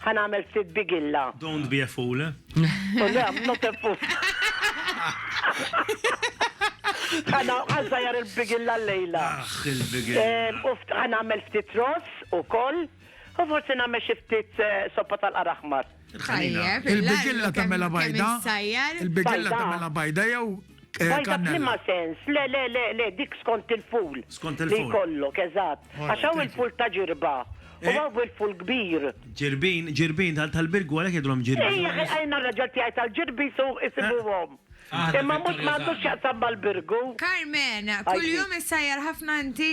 Ħa nagħmel ftit bigilla. Don't be a fool. Oh, le, I'm not a fool. Għana għazzajar il-bigilla l-lejla. Aħ, il-bigilla. Għana għamel ftit ros u koll. U forse nagħmel xi ftit eh, soppa tal-qaraħmar. Il-bigilla tagħmela bajda. Il-bigilla tagħmela bajda jew Eh, Bajda kannella. b'liema sens, le, le, le, le, dik skont il-ful. Skont il-ful. Li jkollok, eżatt. Alright, Għax hawn thank il-ful ta' ġirba. U Eh. hawn il-ful kbir. Ġirbin, ġirbin tal- tal-birgu għalhekk jgħidulhom Ej, ġirbin. għajna raġel tiegħi tal-ġirbi su isibuhom. Aħna Imma mhux Victoria m'għandux Zahra. x'jaqsam mal-birgu. Carmen, Għajti. kuljum issajjar ħafna inti?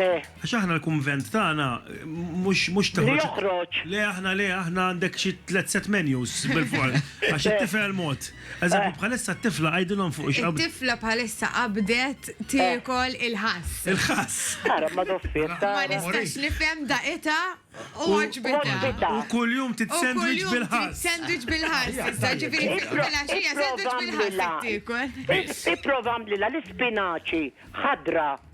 Eh. Għax aħna l-kunvent tagħna mhux mhux toħroġ. Li joħroġ. Le aħna le aħna għandek xi tliet set menus bil-fors. Għax it-tifel mod. Eżempju bħalissa t-tifla għidilhom fuq ix It-tifla bħalissa qabdet tiekol il-ħass. Il-ħass. Ara ma doffiet. Ma nistax nifhem daqita u għaġbita. U kuljum titsendwiċ bil-ħass. Sandwich bil-ħass. Issa ġifieri tifla xija sandwich bil-ħass tiekol. Ipprova għamlilha l-ispinaċi ħadra